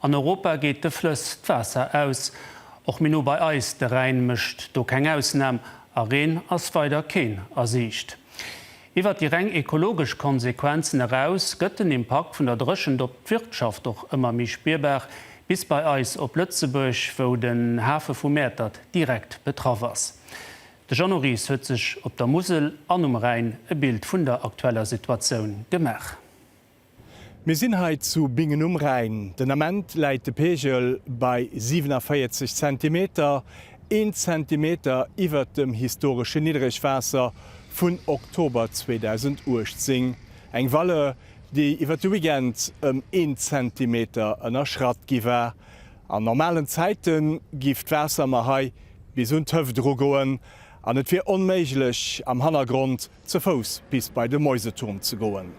An Europa geet de Flëss d'Waasser aus. Och méi no bei eis, de Rhäin mécht do keng Ausnam, a Reen ass weider keen a Siicht. Iwwert déi reng ekologesch Konsequenzen eraus gëtt den Impakt vun der Dréchent op d'Wirtschaft och ëmmer méi spierbar, bis bei eis op Lëtzebuerg, wou den Hafe vu Mäertert direkt betraff ass. De Jeannot Ries huet sech op der Musel an um Rhäin e Bild vun der aktueller Situatioun gemaach. Mir sinn hei zu Bingen um Rhäin. Den Ament läit de Pegel bei 47 Zentimeter, een Zentimeter iwwert dem historeschen Niddregwaasser vun Oktober 2018. Eng Valeur, déi iwwert de Weekend ëm een Zentimeter ënnerschratt gi war. An normalen Zäite giff d'Waasser mer hei bis un d'Hëft erugoen an et wier onméiglech am Hannergrond, Ze Fouss bis bei de Mäuseturm ze goen.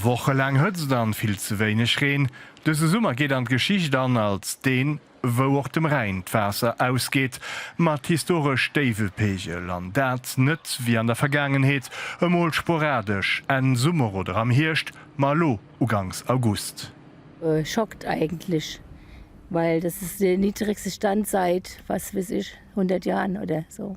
Wochelaang Hëtzt an vill ze wéineg Reen. Dëse Summer geet an d'Geschicht an als deen, wou och dem Rhäin d'Waasser ausgeet, mat historesch déiwe Pegel, an dat net wéi an der Vergaangenheet, emol sporadesch Enn Summer oder am Hierscht, ma elo ugangs August. Schockt eigentlich, weil das ist der niedrigste Stand seit was weiß ich hundert Jahren oder so.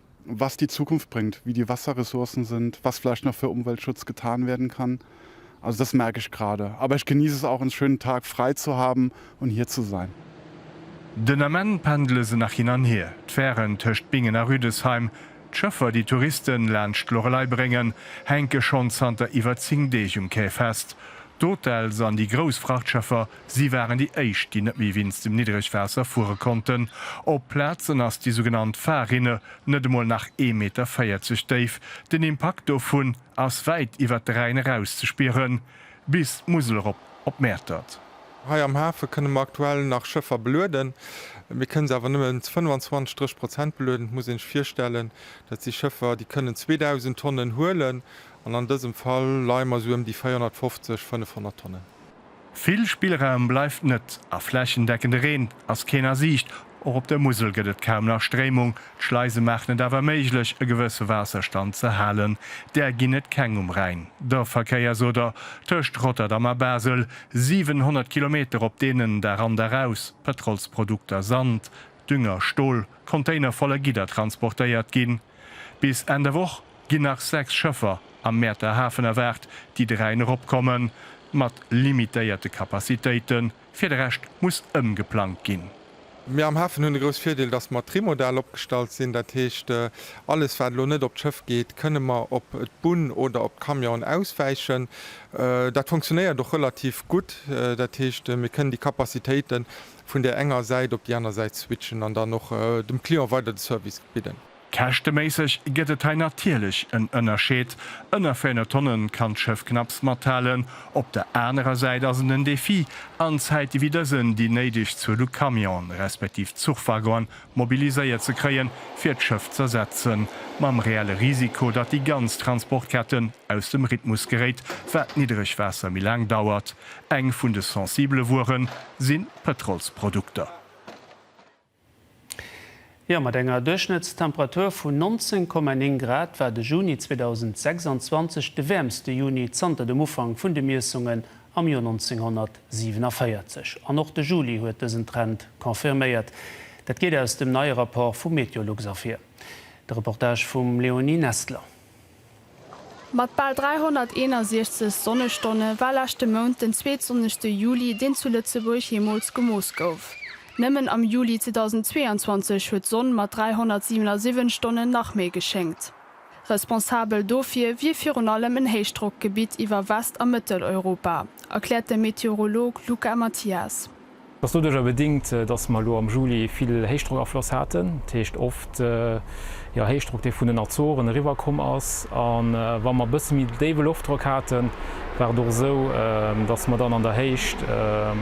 was die Zukunft bringt, wie die Wasserressourcen sind, was vielleicht noch für Umweltschutz getan werden kann. Also das merke ich gerade. Aber ich genieße es auch, einen schönen Tag frei zu haben und hier zu sein. Den Ament pendele se nach hin an hier, d'Fären tëscht Bingen a Rüdesheim. D'Schëffer, déi Touristen laanscht d'Loreley bréngen, hänke schonn zanter iwwer 10 Deeg um Quai fest. D'Hotels an déi grouss Frachtschëffer Si waren déi éischt, déi net méi wéinst dem Niddregwaasser fuere konnten. Op Plazen ass déi sougenannt Fahrrinne net emol nach ee Meter 40 déif. Den Impakt dovun ass wäit iwwert de Rhäin eraus ze spieren, bis d'Musel erop op Mäertert. Hei am Hafe kënne mer aktuell nach Schëffer belueden. Mir kënne se awer nëmmen zu 25, 30 Prozent belueden. Et muss ee sech virstellen, dat si Schëffer, déi kënnen 2.000 Tonnen huelen, an an dësem Fall leie mer esou ëm déi 450, 500 Tonnen. Vill Spillraum bleift net a flächendeckende Reen ass keen a Siicht. Och op der Musel gëtt et kaum nach Stréimung. D'Schleise maachen et awer méiglech, e gewësse Waasserstand ze halen. Där ginn et keng um Rhäin. Der Verkéiersoder tëscht Rotterdam a Basel, 700 Kilometer op deenen, Dag an, Dag aus, Pëtrolsprodukter, Sand, Dünger, Stol, Container voller Gidder transportéiert ginn. Bis Enn der Woch ginn nach 6 Schëffer am Mäerter Hafen erwaart, déi de Rhäin eropkommen, mat limitéierte Capacitéiten. Fir de Rescht muss ëmgeplangt ginn. Mir am Hafen hunn de grouss Virdeel, dass mer trimodal opgestallt sinn. Dat heescht, alles wat elo net op d'Schëff geet, kënne mer op d'Bunn oder op d'Camionen auswäichen. Dat funktionéiert och relativ gutt. Dat heescht, mir kënnen déi Capacitéiten vun där enger Säit op déi aner Säit switchen an dann och dem Client weider de Service bidden. Käschteméisseg gëtt et hei natierlech en Ënnerscheed, ënner 400 Tonne kann d'Schëff knapps mathalen, op der anerer Säit ass et en Defi, an Zäite wéi dësen déi néideg Zuel u Camionen, respektiv Zuchwaggonen mobiliséiert ze kréien, fir d'Schëff z'ersetzen, mam reelle Risiko, datt déi ganz Transportketten aus dem Rhythmus geréit, wat d'Niddregwaasser méi laang dauert. Eng vun de sensibele Wuere sinn d'Pëtrolsprodukter. Jo, mat enger Duerchschnëttstemperatur vun 19,9 Grad war de Juni 2026 de wäermste Juni zanter dem Ufank vun de Miessungen am Joer 1947. An och de Juli huet dësen Trend confirméiert. Dat geet aus dem neie Rapport vu Meteolux ervir. De Reportage vum Léonie Nestler. Mat bal 361 Sonnestonne war leschte Mount den zweetsonnegste Juli, deen zu Lëtzebuerg jeemools gemooss gouf. Nëmmen am Juli 2022 huet d'Sonn mat 377 Stonnen nach méi geschéngt. Responsabel dofir wier virun allem en Héichdrockgebitt iwwer West a Mëtteleuropa, erkläert de Meteorolog Luca Mathias. Et ass doduerjer bedingt, dass mer elo am Juli vill Héichdrockafloss haten, dat heescht oft Héichdrock, dee vun den Azoren eriwwerkomm ass. A wa mer e bësse méi déiwe Loftdrock haten, war et och esou, dass mer dann an der Héicht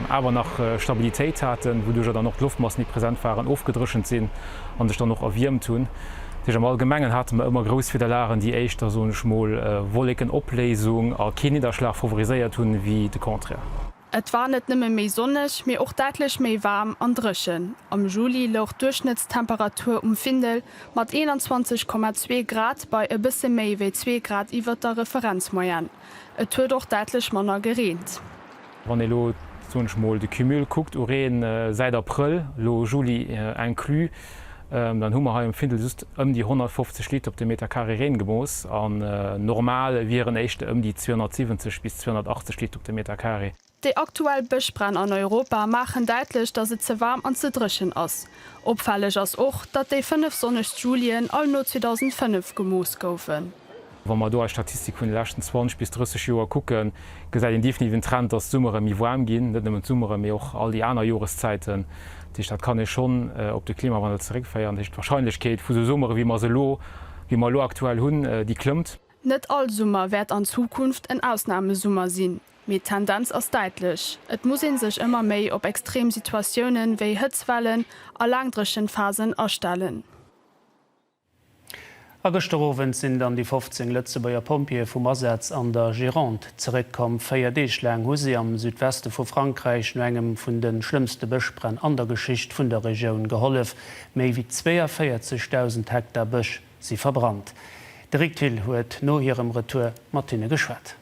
awer nach Stabilitéit haten, wouduerjer dann och d'Loftmassen, déi present waren, ofgedréchent sinn a sech dann och erwiermt hunn. Dat heescht am Allgemengen hate mer ëmmer grouss Wiederlagen, déi éischter, soen ech mol, Wollekenopléisung a keen Nidderschlag favoriséiert hunn, wéi de Contraire. Et war net nëmme méi sonneg, mee och däitlech méi waarm an dréchen. Am Juli louch d'Duerchschnëttstemperatur um Findel mat 21,2 Grad bei e bësse méi wéi zwee Grad iwwert der Referenzmoyenne. Et huet och däitlech manner gereent. Wann ee elo, soen ech mol, de Cumul kuckt u Reen säit Abrëll, elo Juli inclus, Dann hu mer hei um Findel just ëm déi 150 Liter op de Meter Carré Reen gemooss an normal wieren éischter ëm déi 270 bis 280 Liter op de Meter Carré. Déi aktuell Bëschbränn an Europa maachen däitlech, datt et ze waarm an ze dréchen ass. Opfälleg ass och, datt déi fënnef sonnegst Julien all no 2005 gemooss goufen. Wa mer do eis Statistik vun de leschten 20 bis 30 Joer kucken, gesäit een definitiv en Trend, dass d'Summere méi waarm ginn, net nëmmen d'Summere, mee och all déi aner Joreszäiten. Dat heescht, dat kann ee schonn op de Klimawandel zeréckféieren. Dat heescht, d'Warscheinlechkeet vu sou Summere, wéi mer se elo, wéi mer elo aktuell hunn, déi klëmmt. Net all Summer wäert an Zukunft en Ausnamesummer sinn, mee d'Tendenz ass däitlech. Et muss ee sech ëmmer méi op extrem Situatiounen, wéi Hëtzwellen a laangdréchent Phasen astellen. A gëschter Owend sinn dann déi 15 Lëtzebuerger Pompjeeë vum Asaz an der Gironde zeréckkomm. Véier Deeg laang hu si am Südweste vu Frankräich no engem vun de schlëmmste Bëschbränn an der Geschicht vun der Regioun gehollef. Méi wéi 42.000 Hektar Bësch si verbrannt. De Rick Thill huet no hirem Retour mat hinne geschwat.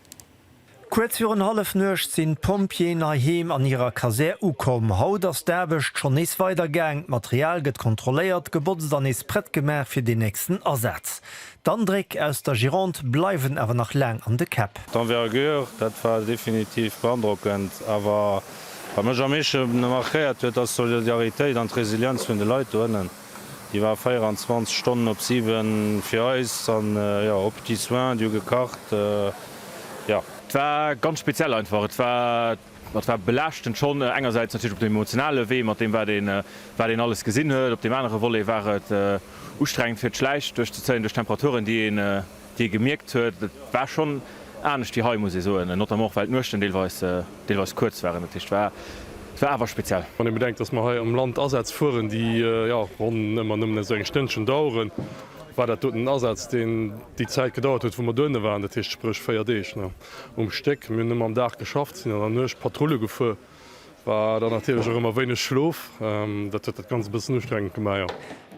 Kuerz virun Hallefnuecht sinn d'Pompjeeën hei heem an hirer Kasär ukomm. Haut ass d'Aarbecht schonn nees weider gaang. D'Material gëtt kontrolléiert, gebotzt an nees prett gemaach fir den nächsten Asaz. D'Andréck aus der Gironde bleiwen awer nach laang an de Käpp. D'Envergure, dat war definitiv beandrockend. Awer wat mech am meeschte markéiert huet, ass d'Solidaritéit an d'Resilienz vun de Leit do ënnen. Déi war 24 Stonnen op 7 fir eis an jo op déi Soins, déi hu gekacht jo. Et war ganz speziell einfach. Et war et war belaaschtend schonn engersäits natierlech op dem emotionale Wee mat deem wat een wat een alles gesinn huet. Op deem anere Volet war et ustrengend fir d'Schläich duerchzezéien duerch d'Temperaturen déi een, dee gemierkt huet, et war schonn anescht wéi hei, muss ee soen, notamment och well d'Nuechten deelweis kuerz waren. Dat heescht, et war awer speziell. Wann ee bedenkt, datt mer hei am Land Asätz fueren, déi jo ronn ëmmer nëmmen esou eng Stënnchen daueren, war dat doten en Asaz, deen déi Zäit gedauert huet, wou mer dohinne waren, dat heescht spréch véier Deeg um Stéck. Mir hunn ëmmer am Dag geschafft, sinn an der Nuecht Patrulle gefuer. War dann natierlech och ëmmer wéineg Schlof, dat huet dat Ganzt e bëssen ustrengend gemaach, jo.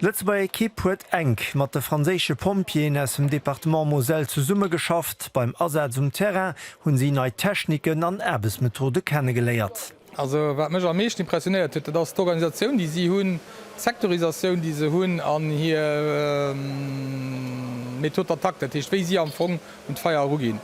D'Lëtzebuerger Ekipp huet enk mat de franséische Pompjeeën aus dem Departement Moselle zesummegeschafft. Beim Asaz um Terrain hunn si nei Techniken an Aarbechtsmethode kennegeléiert. Also wat mech am meeschten impressionéiert huet, dat ass d'Organisatioun, déi si hunn, d'Sectorisatioun, déi se hunn an hir Méthode d'attaque, dat heescht, wéi si am Fong un d'Feier eruginn.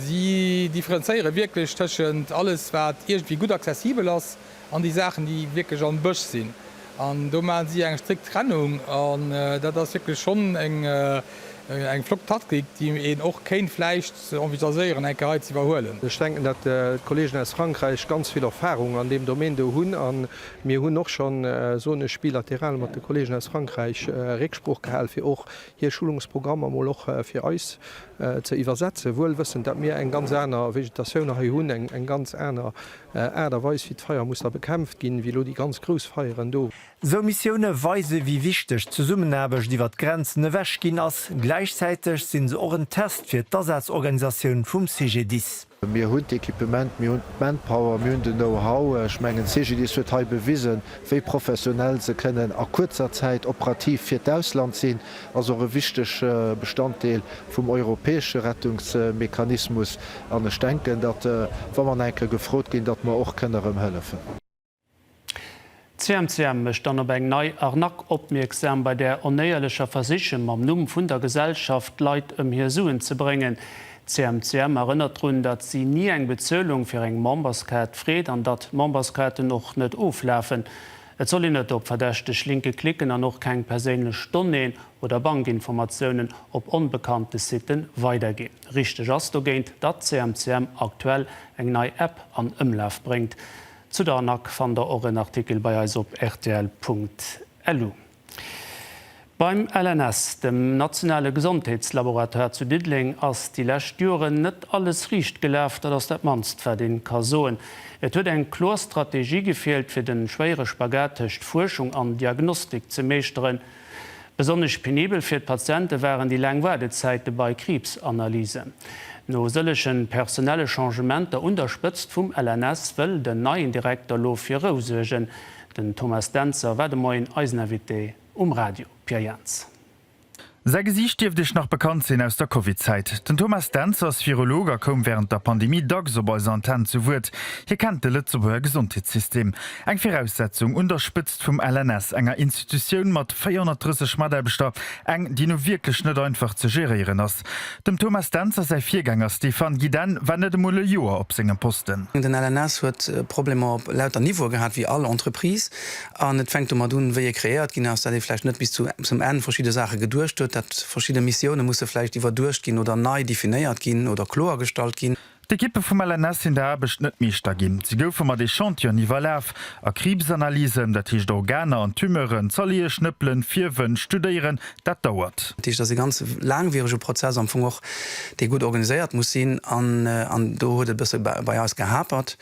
Si differenzéiere wierklech tëschent alles, wat iergendwéi gutt accessibel ass, an déi Saachen, déi wierklech am Bësch sinn. An do maache si eng strikt Trennung. An dat ass wierklech schonn eng flott Taktik, déi een och kéint vläicht envisagieren, eng Kéier hei ze iwwerhuelen. Ech denken, datt d'Kolleegen aus Frankräich ganz vill Erfahrung an deem Domaine do hunn. A mir hunn och schonn, soen ech bilateral, mat de Kolleegen aus Frankräich Récksprooch gehal, fir och hir Schulungsprogrammer mol och fir eis ze iwwersetzen, wuel wëssend, dat mir eng ganz aner Vegetatioun hei hunn, eng ganz aner Aart a Weis, wéi d'Feier muss da bekämpft ginn, wéi elo déi ganz grouss Feieren do. Esou Missioune weise wéi wichteg d'Zesummenaarbecht iwwer d'Grenzen ewech ginn ass. Gläichzäiteg sinn se och en Test fir d'Asazorganisatioun vum CGDIS. Mir hunn d'Equipement, mir hunn d'Manpower, mir hunn den Know-how. Ech mengen, d'Cegedis huet hei bewisen, wéi professionell se kënnen a kuerzer Zäit operativ fir d'Ausland sinn, ass och e wichtege Bestanddeel vum europäesche Rettungsmechanismus an ech denken, datt, wa mer nach eng Kéier gefrot ginn, datt mer och kënnen erëm hëllefen. D'CMCM mécht dann op eng nei Arnaque opmierksam, bei där Onéierlecher versichen, mam Numm vun der Gesellschaft d'Leit ëm hir Suen ze bréngen. D'CMCM erënnert drun, datt si ni eng Bezuelung fir eng Memberskaart freet an datt Memberskaarten och net oflafen. Et soll een net op verdächteg Linke klicken an och keng perséinlech Donnéeën oder Bankinformatiounen op onbekannte Siten weiderginn. Richteg ass dogéint, datt d'CMCM aktuell eng nei App an Ëmlaf bréngt. Zu der ANAC fannt der och en Artikel bei eis op rtl.lu. Beim LNS, dem nationale Gesondheetslaboratoire zu Diddeleng, ass déi lescht Joren net alles riicht gelaf. Dat ass dat mannst, wat ee ka soen. Et huet eng kloer Strategie gefeelt, fir de schwéiere Spagat tëscht Fuerschung an Diagnostik ze meeschteren. Besonnesch penibel fir d'Patiente waren déi laang Waardezäite bei Kriibsanalysen. No sëllege personelle Changementer un der Spëtzt vum LNS wëll den neien Direkter lo fir Rou suergen. Den Thomas Dentzer war de Moien eisen Invité um Radio. Pierre Jaentz. Säi Gesiicht dierft Iech nach bekannt sinn aus der Covid-Zäit. Den Thomas Dentzer ass Virolog a koum wärend der Pandemie dacks op eiser Antenn zu Wuert. Hie kennt de Lëtzebuerger Gesondheetssystem, eng Viraussetzung un der Spëtzt D'Spëtzt vum LNS, enger Institutioun mat 430 Mataarbechter, eng, déi nu wierklech net einfach ze geréieren ass. Dem Thomas Dentzer säi Virgänger Stéphane Giden war net emol e Joer op sengem Posten. Den LNS huet Problemer op lauter Niveaue gehat, wéi all Entreprise. An et fänkt domat un, wéi e kreéiert ginn ass, dat ee vläicht net bis zum Enn verschidde Saache geduecht huet, dat verschidde Missioune musse vläicht iwwerduecht ginn oder nei definéiert ginn oder kloergestallt ginn. D'Ekippe vum LNS sinn der Aarbecht net Meeschter ginn. Si goufe mat Echantionen iwwerlaf a Kriibsanalysen, dat heescht Organer an Tumeuren, zerleeë, schnëppelen, fierwen, studéieren, dat dauert. Dat heescht, dat ass e ganz laangwierege Prozess am Fong och, dee gutt organiséiert muss sinn. An do huet et e bësse bei eis gehapert.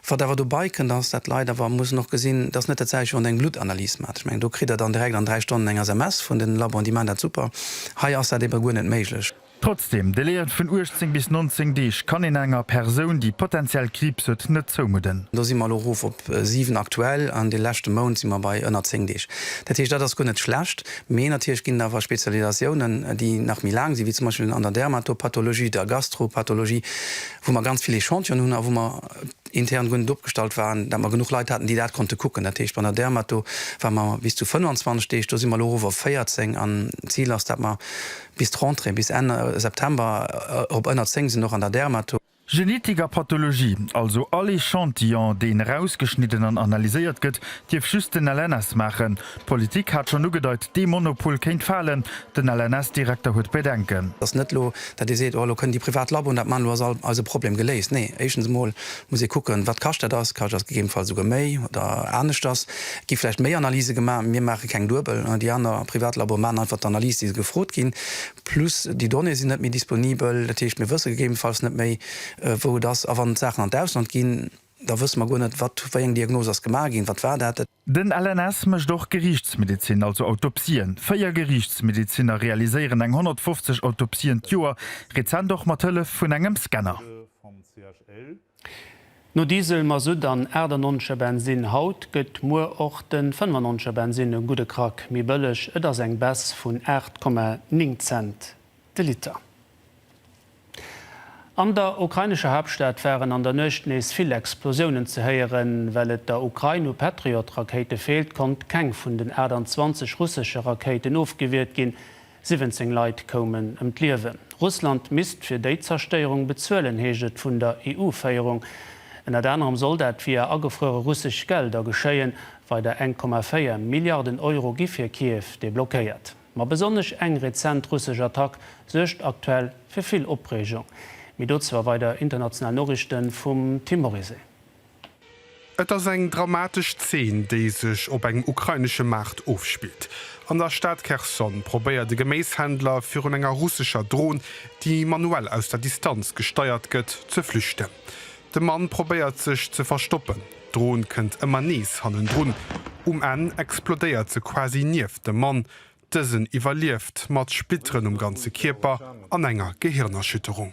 Wat awer dobei kënnt, ass, dat d'Leit awer mussen och gesinn, dass net dat selwecht, wéi wann Der eng Bluttanalyse maacht. Ech mengen, do kritt Der dann direkt an dräi Stonnen eng SMS vun den Laboen, déi maachen dat super. Hei ass dat eebe guer net méiglech. Trotzdem, Délaië vun 18 bis 19 Deeg kann een enger Persoun, déi potenziell Kriibs huet, net zoumudden. Do si mer elo erof op 7 aktuell an de leschte Mount si mer bei ënner 10 Deeg. Dat heescht, dat ass guer net schlecht, mee natierlech ginn et awer Spezialisatiounen, déi nach méi laang sinn, wéi zum Beispill an der Dermatopathologie, der Gastropathologie, wou mer ganz vill Echantionen hunn a wou mer intern guer net opgestallt waren, dat mer genuch Leit haten, déi dat konnte kucken. Dat heescht, bei der Dermato ware mer bis zu 25 Deeg, do si mer elo erof op 14 an d'Zil ass, dat mer Bis d'Rentrée, bis Enn September, op ënner 10 sinn och an der Dermato. Genetik a Pathologie, also all Echantillon, deen erausgeschnidden an analyséiert gëtt, dierf just den LNS maachen. D'Politik hat schonn ugedeit, dee Monopol kéint falen. Den LNS-Direkter huet Bedenken. Et ass net elo, datt ee seet, oh elo kënnen déi privat Laboen dat maachen, elo ass all eise Problem geléist. Nee, éischtens emol Muss ee kucken, wat kascht dat ass. Kascht ass gegebenfalls esouguer méi oder aneschters. Et gi vläicht méi Analyse gemaach. Mir maache keng duebel. Déi aner privat Laboe maachen einfach d'Analyse, déi se gefrot ginn. Plus déi Donnéeë sinn net méi disponibel. Dat heescht, mir wësse gegebenfalls net méi, wou et ass. A wann d'Saachen an d'Ausland ginn, da wësse mer guer net, wat, wéi eng Diagnose ass gemaach ginn, wat war dat. Den LNS mécht och Geriichtsmedezin, also Autopsien. Véier Geriichtsmedezinner realiséieren eng 150 Autopsien d'Joer, rezent och mat Hëllef vun engem Scanner. No Diesel, Masutt an 98 er Bensin haut, gëtt muer och de 95 er Bensin e gudde Krack méi bëlleg. Et ass eng Baisse vun 8,9 Cent de Liter. An der ukrainescher Haaptstad waren an der Nuecht nees vill Explosiounen ze héieren. Well et der Ukrain u Patriot-Rakéite feelt, konnt keng vun den 28 russesche Rakéiten ofgewiert ginn. 17 Leit koumen ëm d'Liewen. Russland misst fir déi Zerstéierung bezuelen, heescht et vun der EU-Féierung. Ënnert anerem soll dat via agefruere russesch Gelder geschéien. Weider 1,4 Milliarden Euro gi fir Kiew deblockéiert. Ma besonnesch eng rezent russesch Attack suergt aktuell fir vill Opreegung. Mee dozou a weider international Noriichte vum Tim Morizet. Et ass eng dramatesch Zeen, déi sech op engem ukrainesche Maart ofspillt. An der Stad Kherson probéiert e Geméishändler virun enger russescher Dron, déi manuell aus der Distanz gesteiert gëtt, ze flüchten. De Mann probéiert sech ze verstoppen, d'Dron kënnt ëmmer nees hannendrun. Um Enn explodéiert se quasi nieft dem Mann. Dësen iwwerlieft, mat Splitteren um ganze Kierper an enger Gehirnerschütterung.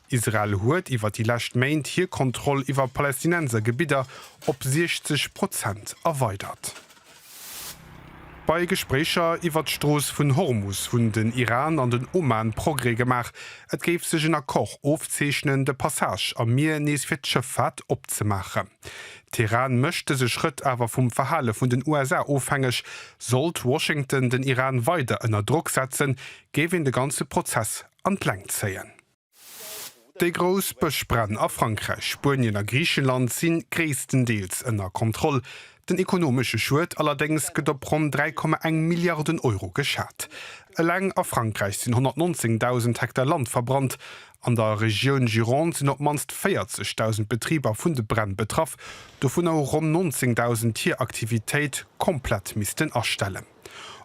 Israel huet iwwer déi lescht Méint hir Kontroll iwwer Palästinenser Gebidder op 60 Prozent erweidert. Bei Gespréicher iwwer d'Strooss vun Hormus hunn den Iran an den Oman Progrès gemaach. Et géif sech en Accord ofzeechnen, de Passage am Mier nees fir d'Schëffaart opzemaachen. Teheran mécht dëse Schrëtt awer vum Verhale vun den USA ofhängeg. Sollt Washington den Iran weider ënner Drock setzen, géif een de ganze Prozess an d'Längt zéien. Déi grouss Bëschbränn a Frankräich, Spuenien a Griichenland si gréisstendeels ënner Kontroll. Den ekonomesche Schued allerdéngs gëtt op ronn 3,1 Milliarden Euro geschat. Eleng a Frankräich sinn 119.000 Hektar Land verbrannt. An der Regioun Gironde sinn op d'mannst 40.000 Betriber vun de Bränn betraff, dovunner hu ronn 19.000 hir Aktivitéit komplett missten astellen.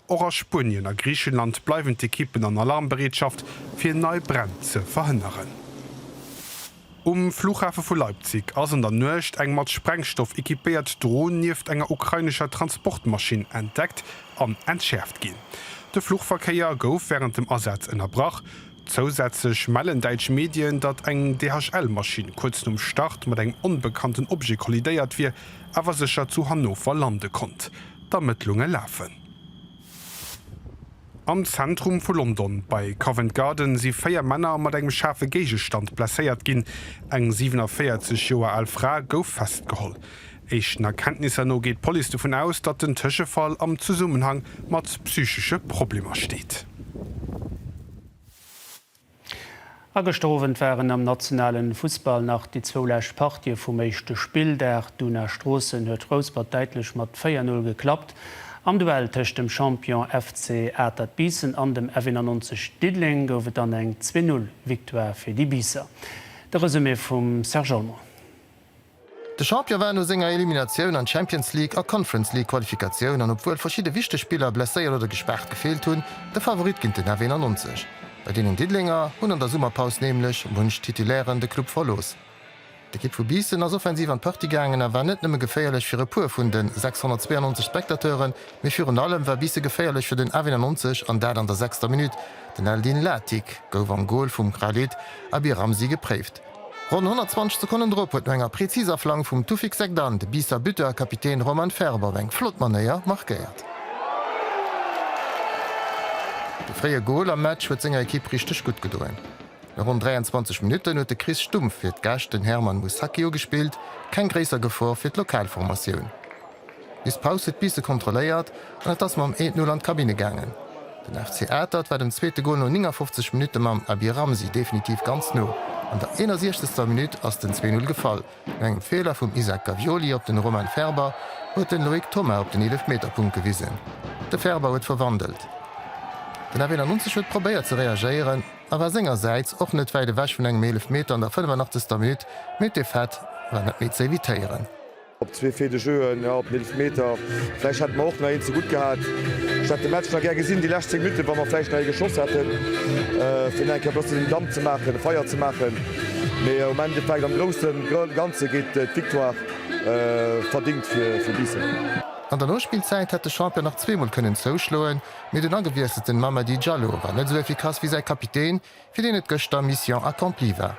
Och a Spuenien a Griichenland bleiwen d'Ekippen an Alarmbereetschaft, fir nei Bränn ze verhënneren. Um Flughafe vu Leipzig ass an der Nuecht eng mat Sprengstoff equipéiert Dron nieft enger ukrainescher Transportmaschinn entdeckt an entschäerft ginn. De Fluchverkéier gouf wärend dem Asaz ënnerbrach. Zousätzlech mellen däitsch Medien, datt eng DHL-Maschinn kuerz nom Start mat engem onbekannten Objet kollidéiert wier, awer sécher zu Hannover lande konnt. D'Ermëttlunge lafen. Am Zentrum vu London, bei Covent Garden, si véier Männer mat engem schaarfe Géigestand blesséiert ginn. Eng 47 Joer al Fra gouf festgeholl. Éischten Erkenntnisser no geet d'Police dovun aus, datt den Tëschefall am Zesummenhang mat psychesche Problemer steet. A gëschter Owend waren am nationale Fussball nach déi zwou lescht Partië vum éischte Spilldag. D'Una Stroossen huet Rouspert däitlech mat 4-Null geklappt. Am Duell tëscht dem Champion FC Atert Biissen an dem F91 Diddeleng gouf et dann eng Zwee-Null-Victoire fir déi Biisser. De Resumé vum Serge Olmo. De Champion war no senger Eliminatioun an d'Champions League a Conference League Qualifikatioun an obwuel verschidde wichteg Spiller blesséiert oder gespaart gefeelt hunn, de Favorit géint den F 91. Bei deenen Diddelenger hunn an der Summerpaus nämlech munch Titulairen de Club verlooss. D'Ekipp vu Biissen ass offensiv an d'Partie gaangen a war net nëmme geféierlech fir e puer vun de 692 Spectateuren, mee virun allem war Biisse geféierlech fir den F 91 an dat an der sechster Minutt. Den Eldin Latic gouf am Gol vum Khalid Abiramsi gepréift. Ronn 120 Sekonnen drop huet no enger präziser Flank vum Toufic Segdan de Biisser Buteur a Kapitän Roman Ferb op eng flott Manéier markéiert. De fréie Gol am Match huet senger Ekipp richteg gutt gedoen. No ronn 23 Minutten huet de Chris Stumpf fir d'Gäscht den Herman Musacchio gespillt, keng gréisser Gefor fir d'Lokalformatioun. Miss Paus huet d'Bisse kontrolléiert an et ass mam Eent Null an d'Kabinne gaangen. Den FC Atert war dem zweete Gol no 59 Minutte mam Abir Ramzi definitiv ganz no. An der 61. Minutt ass den Zwee Null gefall. No engem Feeler vum Isaac Gavioli op den Romain Ferber huet den Loïc Thomas op den Eelefmeterpunkt gewisen. De Ferber huet verwandelt. Den F91 huet probéiert ze reagéieren a war sengersäits och net wäit ewech vun engem Eelefmeter an der 85. Minutt, mee d'Défaite war net méi ze evitéieren. Op zwee Faits de jeu, jo, op den Eelefmeter. Vläicht hätte mer och nach een ze gutt gehat. Ech hätt de Match nach gär gesinn, déi lescht 10 Minutten, wa mer vläicht nach ee geschoss hätten, fir nach eng Kéier e bëssen Damp ze maachen, Feier ze maachen. Mee um Endeffekt, am grousse Ganze geet d'Victoire verdéngt fir Biissen. An der Nospillzäit hätt de Champion nach zweemol kënnen zouschloen, mee den agewiesselten Mamady Diallo war net esou efficace wéi säi Kapitän, fir deen et gëschter Mission accomplie war.